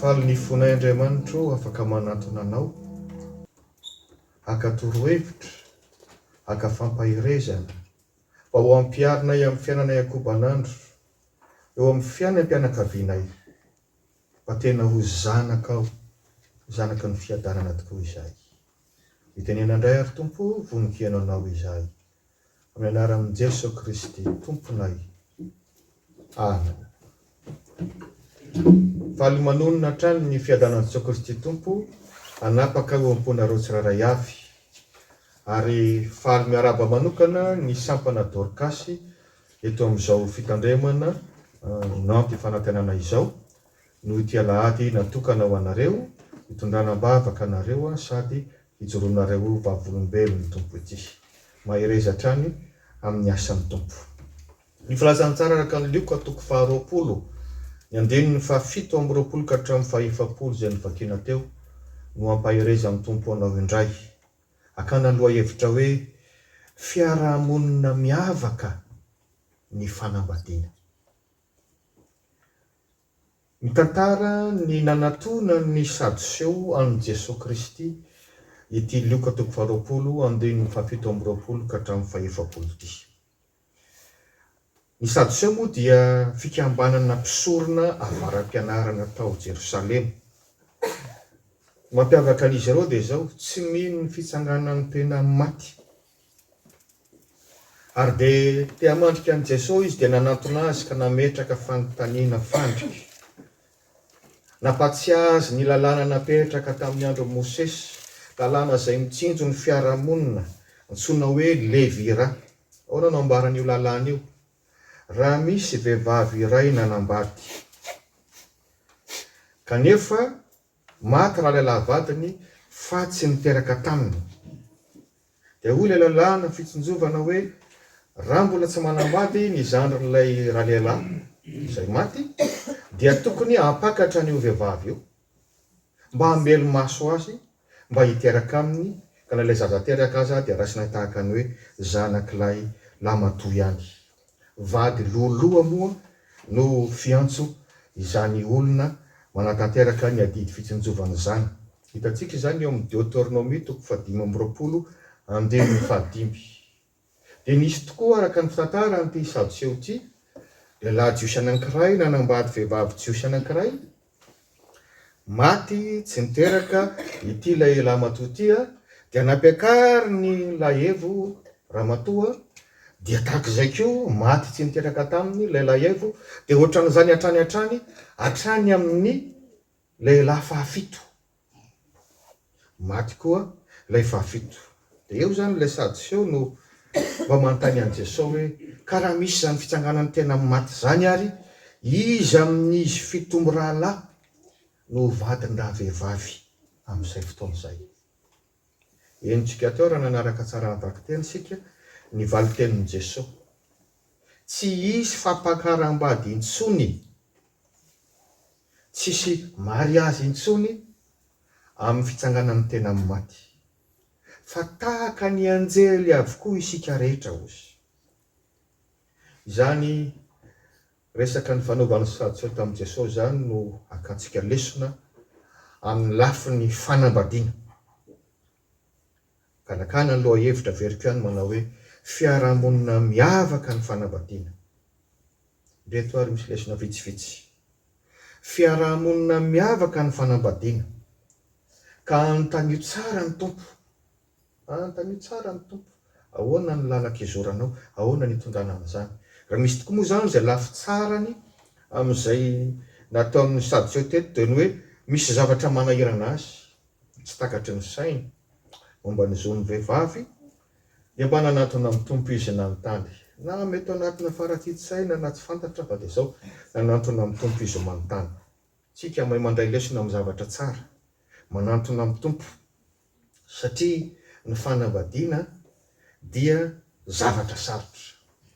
Faly ny fonay Andriamanitra ô afaka manatona anao haka torohevitra, haka fampaherezana mba ho ampiharinay amin'ny fiainanay ankoban'andro, eo amin'ny fiainam-pianakavianay mba tena ho zanakao, zanaky ny fiadanana tokoa izahay. Mitenena indray ary Tompo o, vononkehano Anao izahay. Amin'ny anaran'i Jeso Kristy Tomponay. Amen. Faly manonona hatrany ny fiadanan'i Jeso Kristy Tompo hanapaka eo am-ponareo tsirairay avy. Ary faly miarahaba manokana ny sampana Dorcas eto amin'izao fitandremana no anti-fanantenana izao. Noho ity alahady natokana ho anareo, hitondrana am-bavaka anareo sady hijoroanareo ho vavolombelon'ny Tompo ity. Mahereza hatrany amin'ny asan'ny Tompo. Ny Filazantsara araka an'i Lioka toko faharoapolo, ny andininy fahafito amby roapolo ka hatramin'ny fahefapolo izay novakiana teo no hampahereza amin'ny Tompo anao indray. Akana lohahevitra hoe Fiarahamonina Miavaka ny Fanambadiana. Mitantara ny nanatona ny Sadoseo an'i Jesoa Kristy ity Lioka toko faharoapolo andininy fahafito amby roapolo ka hatramin'ny fahefapolo ity. Ny Sadoseo moa dia fikambanana mpisorona avara-pianarana tao Jerosalema. Mampiavaka an'izy ireo dia izao, tsy mino ny fitsanganan'ny tena amin'ny maty Ary dia te hamandrika an'i Jeso izy dia nanantona azy ka nametraka fanontaniana fandrika. Nampatsiahy azy ny lalàna napetraka tamin'ny andron'i Mosesy, lalàna izay mitsinjo ny fiarahamonina, antsoina hoe Levira. Ahoana no ambaran'io lalàna io? Raha misy vehivavy iray nanambady, kanefa Maty raha ilay lahavadiny fa tsy niteraka taminy. Dia hoy ilay lalàna fitsinjovana hoe raha mbola tsy manambady ny zandrin'ilay ralehilahy izay maty dia tokony hampakatra an'io vehivavy io mba hamelo-maso azy mba hiteraka aminy ka na ilay zaza teraka aza dia raisina tahaka ny hoe zanak'ilay lamatoa ihany. Vady loloha moa no fiantso izany olona manatanteraka ny adidy fitsinjovana izany. Hitantsika izany eo amin'ny Deoteronomia toko fahadimy amby roapolo andininy fahadimy. Dia nisy tokoa araka ny fitantara an'ity Sadoseo ity lehilahy jiosy anankiray nanambady vehivavy jiosy anankiray Maty tsy niteraka ity lehilahy-matoa ity dia nampiakariny Lahevo ramatoa dia tahaka izay koa maty tsy niteraka taminy ilay Lahevo dia ohatran'izany hatrany hatrany hatrany amin'ny lehilahy fahafito. Maty koa ilay fahafito. Dia eo izany ilay Sadioseo no mba manontany an'i Jesoa hoe, Ka raha misy izany fitsanganan'ny tena amin'ny maty izany ary, iza amin'izy fito mirahalahy no ho vadin-dravehivavy amin'izay fotoana izay? Henontsika teo raha nanaraka tsara ny vakiteny isika ny valin-tenin'i Jesoa. Tsy hisy fampakaram-bady intsony. Tsisy mariazy intsony amin'ny fitsanganan'ny tena amin'ny maty. Fa tahaka ny anjely avokoa isika rehetra hozy. Izany resaka nifanaovan'ny Sadoseo tamin'i Jesosy izany no akantsika lesona amin'ny lafiny fanambadiana. Ganakana ny lohahevitra averiko ihany manao hoe fiarahamonina miavaka ny fanambadiana. Ireto ary misy lesona vitsivitsy. Fiarahamonina miavaka ny fanambadiana. Ka anontanio tsara ny Tompo. Anontanio tsara ny Tompo, ahoana ny lalan-kizoranao, ahoana ny itondrana an'izany. Raha misy tokoa moa izany izay lafy tsarany amin'izay nataon'ny Sadio teto dia ny hoe misy zavatra manahirana azy. tsy takatry ny sainy momba ny zon'ny vehivavy dia mba nanantona ny Tompo izy nanontany na mety ho anatina farakintsaina na tsy fantatra fa dia izao nanantona ny Tompo izy manontany tsika mahay mandray lesona amin'ny zavatra tsara manantona amin'ny Tompo satria ny fanambadiana dia zavatra sarotra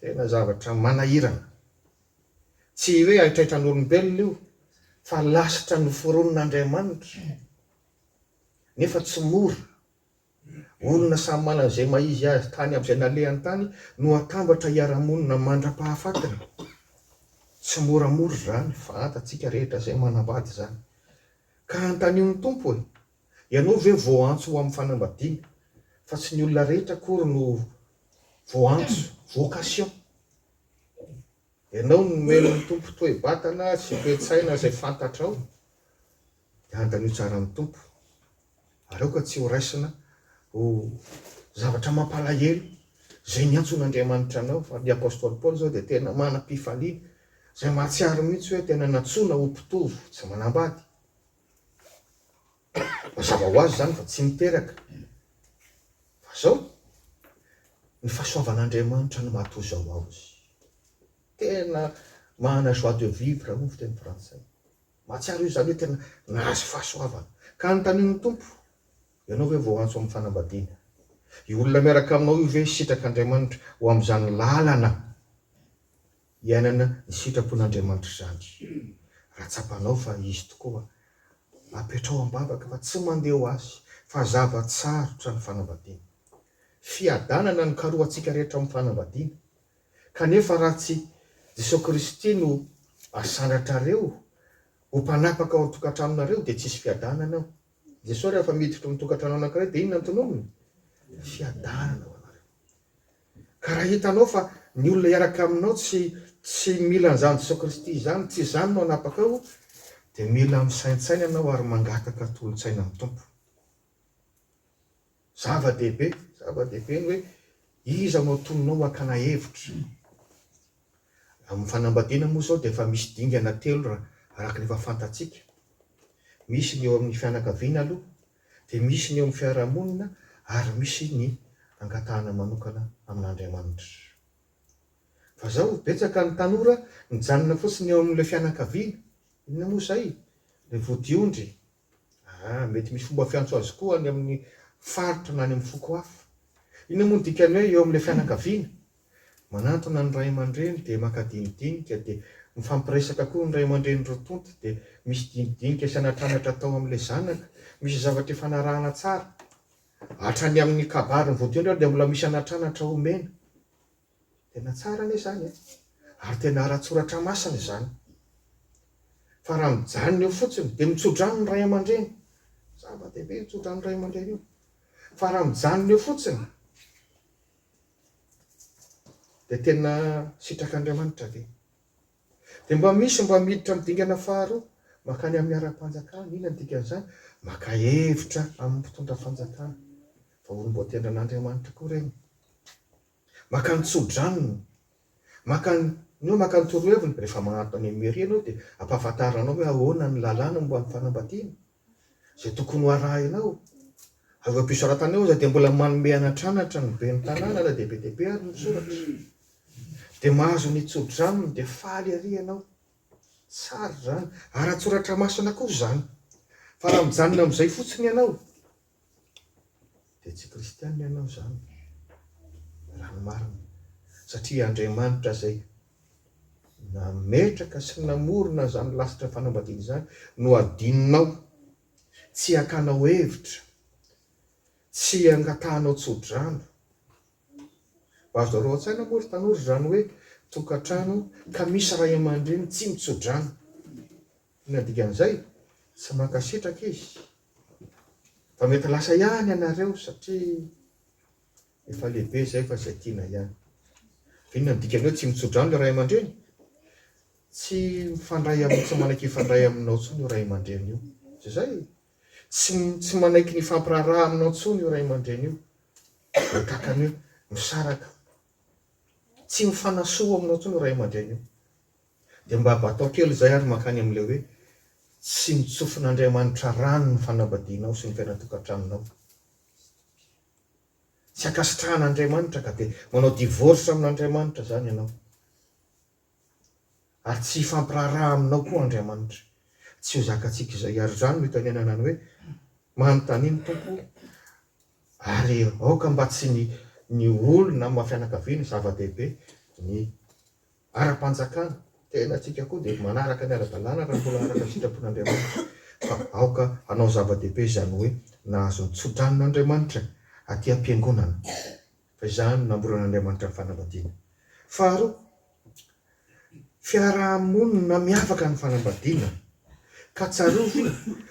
tena zavatra manahirana Tsy hoe haitraitran'olombelona io fa lasitra noforonin'Andriamanitra. Nefa tsy mora. Olona samy manana izay maha-izy azy tany amin'izay nalehany tany no atambatra hiara-monina mandra-pahafatiny. Tsy moramora izany, fantatsika rehetra izay manambady izany. Ka antanio ny Tompo hoe, Ianao ve voaantso ho amin'ny fanambadiana? Fa tsy ny olona rehetra akory no voaantso, vocation. Ianao no nomen'ny Tompo toe-batana sy toe-tsaina izay fantatrao, dia andanio tsara ny Tompo, ary aoka tsy ho raisina ho zavatra mampalahelo izay niantson'Andriamanitra anao, fa ny apostoly Paoly izao dia tena manam-pifaliana, izay mahatsiaro mihitsy hoe tena nantsoina ho mpitovo tsy manambady. Mazava ho azy izany fa tsy niteraka. Fa izao, ny fahasoavan'Andriamanitra no maha-toa izao azy. Tena manana joie de vivre hoy ny fiteny frantsay. Mahatsiaro izany hoe tena nahazo fahasoavana. Ka anontaniany ny Tompo, Ianao ve voaantso amin'ny fanambadiana? Io olona miaraka aminao io ve sitrak'Andriamanitra ho amin'izany lalana? Iainana ny sitrapon'Andriamanitra izany. Raha tsapanao fa Izy tokoa, apetraho am-bavaka fa tsy mandeha ho Azy, fa zava-tsarotra ny fanambadiana. Fiadanana no karohantsika rehetra amin'ny fanambadiana. Kanefa raha tsy Jesosy Kristy no asanatrareo ho mpanapaka ao an-tokantranonareo dia tsisy fiadanana ao. Jesosy rehefa miditra ao amin'ny tokantrano anankiray dia inona no tononiny? Fiadanana ho anareo. Ka raha hitanao fa ny olona hiaraka aminao tsy tsy mila an'izany Jesoa Kristy izany, tsy izany no hanapaka ao, dia mila misaintsaina ianao ary mangataka tolon-tsaina amin'ny Tompo. Zava-dehibe, zava-dehibe ny hoe iza no atononao hakana hevitra. Amin'ny fanambadiana moa izao dia efa misy dingana telo raha araka ny efa fantatsika. Misy ny eo amin'ny fianakaviana aloha, dia misy ny eo amin'ny fiarahamonina ary misy ny angatahana manokana amin'Andriamanitra. Fa zao betsaka ny tanora mijanona fotsiny eo amin'ilay fianakaviana, inona moa izay? ilay vodiondry? aa! mety misy fomba fiantso azy koa any amin'ny faritra na any amin'ny foko hafa. Inona moa ny dikan'ny hoe eo amin'ilay fianakaviana? Manantona ny ray aman-dreny dia maka dinidinika dia mifampiresaka koa ny ray aman-dreny roa tonta dia misy dinidinika sy anatranatra atao amin'ilay zanaka, misy zavatra ifanarahana tsara, hatrany amin'ny kabary ny vodiondry ary dia mbola misy anatranatra omena, tena tsara anie izany e! ary tena ara-tsoratra masina izany, fa raha mijanona eo fotsiny dia mitsodrano ny ray aman-dreny, zava-dehibe io tsodrano ny ray aman-dreny io, fa raha mijanona eo fotsiny, Dia tena sitrak'Andriamanitra ve? Dia mba misy mba miditra amin'ny dingana faharoa, mankany amin'ny ara-panjakana. Inona ny dikan'izany? Maka hevitra amin'ny mpitondra fanjakana, fa olom-boatendran'Andriamanitra koa ireny. Maka ny tsodranony, maka ny ny hoe maka ny toroheviny, rehefa manantona ny mairie ianao dia ampahafantarina anao hoe ahoana ny lalàna momba ny fanambadiana. izay tokony ho arahinao. Ary eo am-pisoratana eo aza dia mbola manome anatranatra ny ben'ny tanàna na dia be dia be ary ny soratra. Dia mahazo ny tso-drano aminy dia faly ery ianao. Tsara izany. Ara-tsoratra masina koa izany. Fa raha mijanona amin'izay fotsiny ianao. dia tsy kristianina ianao izany raha ny marina, satria Andriamanitra izay nametraka sy namorona izany lasitra fanambadiana izany no adinonao, tsy hakanao hevitra, tsy hangatahanao tsodrano. Azo reo an-tsaina moa ry tanora izany hoe tokantrano ka misy ray aman-dreny tsy mitsodrano. Inona dikan'izay? Tsy mankasitraka izy fa mety lasa ihany ianareo satria efa lehibe izay fa izay tiana ihany. Inona ny dikan'ny hoe tsy mitso-drano ilay ray aman-dreny? Tsy mifandray amin'ny tsy manaiky hifandray aminao intsony io ray aman-dreny io. Izay. Tsy, tsy manaiky ny hifampiraharaha aminao intsony io ray aman-dreny io. Dia tahaka ny hoe misaraka. Tsy mifanasoa aminao intsony io ray aman-dreny io. Dia mba batao kely izay ary mankany amin'ilay hoe, Tsy notsofin'Andriamanitra rano ny fanambadianao sy ny fiainan-tokantranonao. Tsy ankasitrahan'Andriamanitra ka dia manao divorce amin'Andriamanitra izany ianao. Ary tsy hifampiraharaha aminao koa Andriamanitra. Tsy ho zakantsika izay. Ary izany no itenenana ny hoe, Manontania ny Tompo ary aoka mba tsy ny ny olona amin'ny maha-fianakaviana zava-dehibe ny ara-panjakana, tena antsika koa dia manaraka ny ara-dalàna raha mbola araka ny sitrapon'Andriamanitra, fa aoka hanao zava-dehibe izany hoe nahazo ny tsodranon'Andriamanitra aty am-piangonana, fa izany no namboran'Andriamanitra ny fanambadiana. Faharoa, fiaraha-monina miavaka ny fanambadiana, ka tsarovy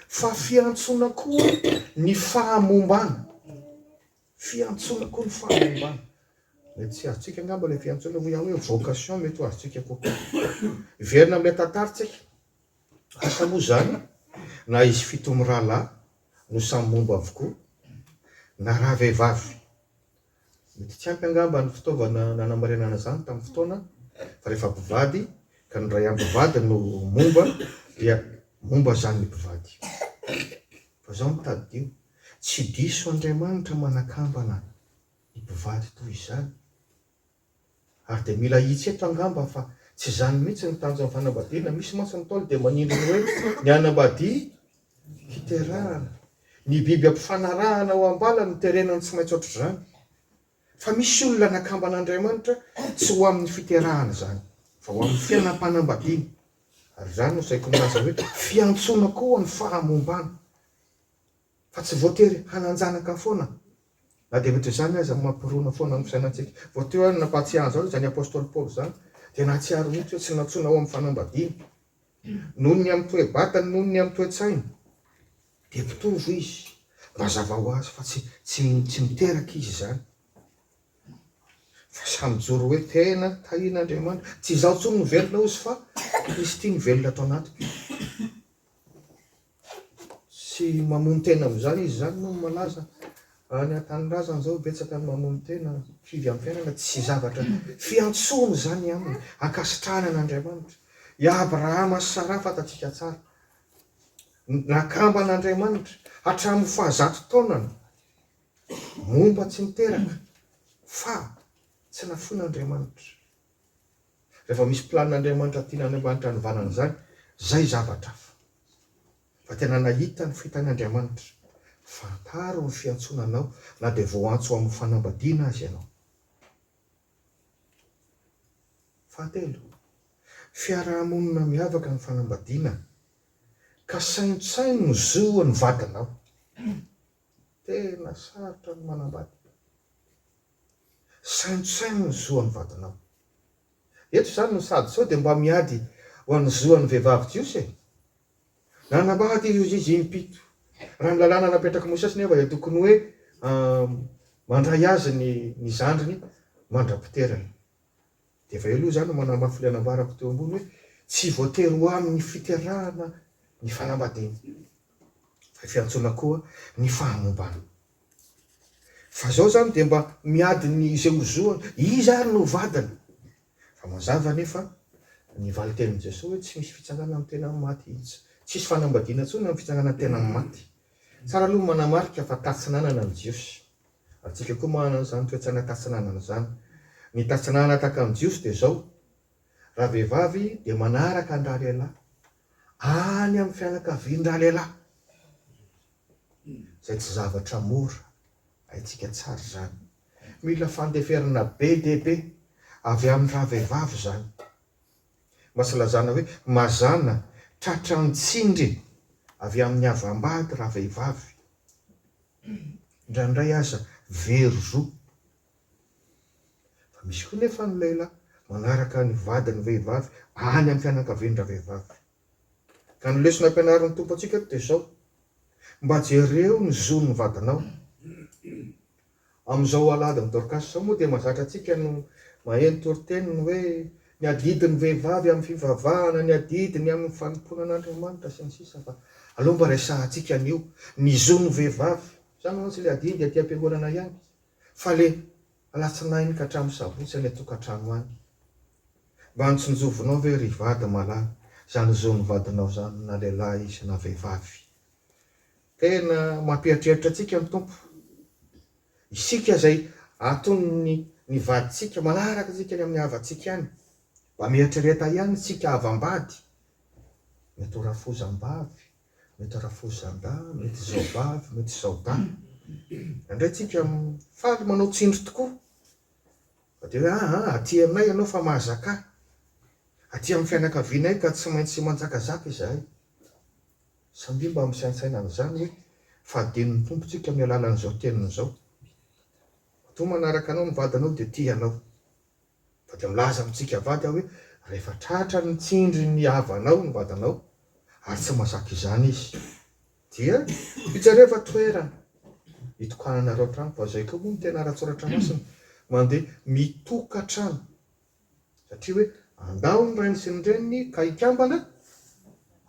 fa fiantsoana koa ny fahamombana. Fiantsoana koa ny fahalalana. Mety tsy azontsika angamba ilay fiantsoana moa ihany hoe vocation mety ho azontsika kokoa. Hiverina amin'ilay tantara isika. Asa moa izany na izy fito mirahalahy no samy momba avokoa na raha vehivavy. Mety tsy ampy angamba ny fitaovana nanamarinana izany tamin'ny fotoana fa rehefa mpivady ka ny ray ampivady no momba dia momba izany ny mpivady. Fa izao no tadidio. Tsy diso Andriamanitra manakambana ny mpivady toy izany. Ary dia mila ahitsy eto angamba fa tsy izany mihitsy ny tanjon'ny fanambadiana. Misy mantsy ny Ntaolo dia manindry ny hoe ny hanambadia hiterahana. Ny biby ampifanarahana ao am-bala no terena no tsy maintsy ohatr'izany. Fa misy olona nakamban'Andriamanitra tsy ho amin'ny fiterahana izany fa ho amin'ny fiainam-panambadiana. Ary izany no saiko milaza hoe fiantsoana koa ho an'ny fahamombana. Fa tsy voatery hanan-janaka foana, na dia ohatra izany aza, mampirona foana amin'ny fisainantsika. Vao teo aho nampahatsiahy an'izany, izany apostoly Paoly izany, dia nahatsiaro mihitsy hoe tsy nantsoina ho amin'ny fanambadiana. Noho ny amin'ny toe-batany, noho ny amin'ny toe-tsainy, dia mpitovo izy. Mazava ho azy fa tsy, tsy, tsy miteraka izy izany, fa samy mijoro hoe tena tahian'Andriamanitra. Tsy izaho intsony no velona, hozy, fa Kristy no velona ato anatiko. sy mamono tena amin'izany izy izany moa no malaza any an-tanindrazana izao betsaka ny mamono tena kivy amin'ny fiainana tsy zavatra fiantsoana izany aminy ankasitrahana an'Andriamanitra i Abrahama sy Sara fantatsika tsara nakambana Andriamanitra hatramin'ny fahazato taonany momba tsy niteraka fa tsy nafoina Andriamanitra Rehefa misy planin'Andriamanitra tiana any ambany tranovalana izany, izay zavatra hafa. Fa tena nahita ny fitan'Andriamanitra. Fantaro ny fiantsoana anao na dia voantso ho amin'ny fanambadiana aza ianao. Fahatelo, fiaraha-monina miavaka ny fanambadiana, ka saintsaino ny zo an'ny vadinao. Tena sarotra ny manambady. Saintsaino ny zo an'ny vadinao. Eto izany ny sady sao dia mba miady ho an'ny zo an'ny vehivavy jiosy e! Nanambady i Jozizy im-pito. Raha ny lalàna napetrak'i Mosesy nefa dia tokony hoe mandray azy ny ny zandriny mandra-piterany. Dia efa eo izany no manamafy ilay nambarako teo ambony hoe tsy voatery ho amin'ny fiterahana ny fanambadiana fa fiantsoana koa ny fahamombana. Fa zao zany dia mba miady ny izay ho zo an! Iza ary no ho vadiny? Fa mazava anefa ny valin-tenin'i Jesoa hoe tsy misy fitsangana ny tena amin'ny maty. Tsisy fanambadiana intsony amin'ny fitsangana ny tena amin'ny maty. Tsara aloha ny manamarika fa tatsinanana ny Jiosy. Antsika koa manana an'izany toe-tsaina tatsinanana izany. Ny tatsinanana tahaka ny Jiosy dia izao, raha vehivavy dia manaraka ny ralehilahy, any amin'ny fianakavian'ny ralehilahy. izay tsy zavatra mora, haintsika tsara izany. Mila fandeferana be dia be avy amin'ny ravehivavy izany. Mba tsy lazana hoe mazàna tratra an-tsindry avy amin'ny havam-bady ravehivavy. Indraindray aza very zo. Fa misy koa nefa ny lehilahy manaraka ny vadiny vehivavy any amin'ny fianakavian-dravehivavy. Ka ny lesona ampianarin'ny Tompo antsika eto dia izao, Mba jereo ny zon'ny vadinao. Amin'izao aladin'i Dorcas izao moa dia mahazatra antsika no maheno toriteny ny hoe ny adidin'ny vehivavy amin'ny fivavahana, ny adidiny amin'ny fanompoana an'Andriamanitra, sy ny sisa Fa aleo mba resahantsika an'io, ny zon'ny vehivavy. Izany mantsy ilay adidy aty am-piangonana ihany, fa ilay Alatsinainy ka hatramin'ny sabotsy any an-tokantrano any. Mba notsinjovinao ve ry vady malala izany zon'ny vadinao izany na lehilahy izy na vehivavy? Tena mampieritreritra antsika ny Tompo. Isika izay aton'ny ny vadintsika manaraka antsika any amin'ny havantsika any. Mba mieritrereta ihany isika havam-bady, mety ho rafozam-bavy, Mety harafohizandahy, mety zaovavy, mety zaodahy. Indraindray tsika faly manao tsindry tokoa. Fa dia hoe ah ah, aty aminay ianao fa mahazakà. Aty amin'ny fianakavianay ka tsy maintsy manjakazaka izahay. Samia mba misaintsaina an'izany hoe fadenin'ny Tompo tsika amin'ny alalan'izao teniny izao. Matoa manaraka anao ny vadinao dia tia anao. Fa dia milaza amintsika avady aho hoe, Rehefa tratran'ny tsindry ny havanao ny vadinao, ary tsy mahazaka izany izy, dia ijereva toerana hitokananareo hatrany, fa izay koa moa no tena ara-tSoratra Masina, mandeha mitokan-trano, satria hoe, Andao ny rainy sy ny reniny ka hikambana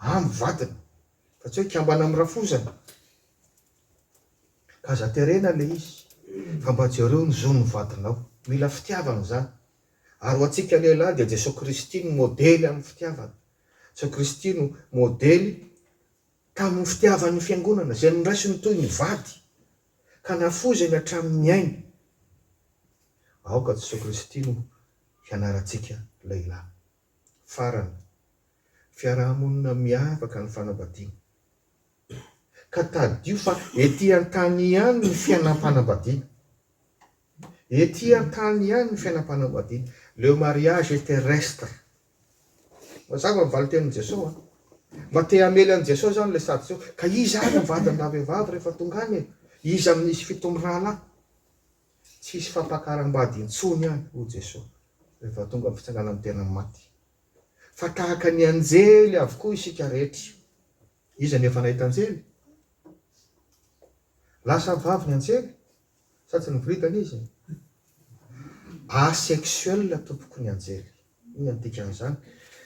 amin'ny vadiny, fa tsy hoe hikambana amin'ny rafozany. Aza terena ilay izy fa mba jereo ny zon'ny vadinao. Mila fitiavana izany. Ary ho antsika lehilahy dia Jesoa Kristy no modely amin'ny fitiavana. Jesoa Kristy no modely tamin'ny fitiavan'ny Fiangonana izay noraisiny toy ny vady ka nafoizany hatramin'ny ainy. Aoka Jesoa Kristy no hianarantsika lehilahy. Farany, fiaraha-monina miavaka ny fanambadiana. Ka tadidio fa ety an-tany ihany ny fiainam-panambadiana. Ety an-tany ihany ny fiainam-panambadiana. Le mariage est terrestre. Mazava ny valintenin'i Jesosy an! Mba te hamely an'i Jesosy aho ilay Sadiseho, ka iza ary ny vadin-dravehivavy rehefa tonga any e? Iza amin'izy fito mirahalahy? Tsy hisy fampakaram-bady intsony any, hoy Jesosy, rehefa tonga ny fitsanganan'ny tena maty. Fa tahaka ny anjely avokoa isika rehetra. Iza no efa nahita anjely? Lasa vavy ny anjely sa tsy niboridana izy? Asexuel tompoko ny anjely. Inona no dikan'izany?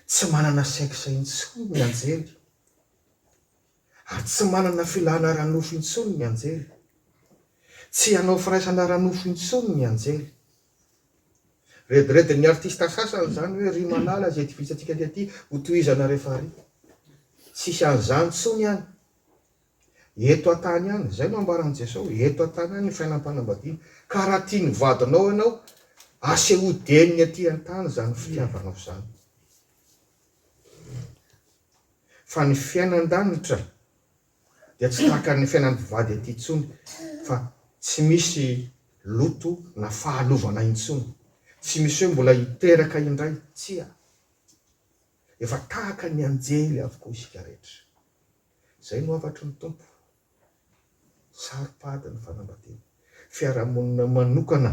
Tsy manana sexe intsony ny anjely. Ary tsy manana filana ara-nofo intsony ny anjely. Tsy hanao firaisana ara-nofo intsony ny anjely. Rediredin'ny artista sasany izany hoe ry malala izay divisa antsika dia aty ho tohizana rehefa ary. Tsisy an'izany tsony any. Eto antany any, izay no ambaran'i Jesosy, eto antany any ny fiainam-panambadiana. Ka raha tia ny vadinao ianao, asehoy dieny ny aty antany izany fitiavanao izany. Fa ny fiainan-danitra dia tsy tahaka ny fiainan'ny mpivady aty intsony fa tsy misy loto na fahalovana intsony, tsy misy hoe mbola hiteraka indray, tsia, efa tahaka ny anjely avokoa isika rehetra. Izay no hafatry ny Tompo, saro-pady ny fanambadiana, fiarahamonina manokana.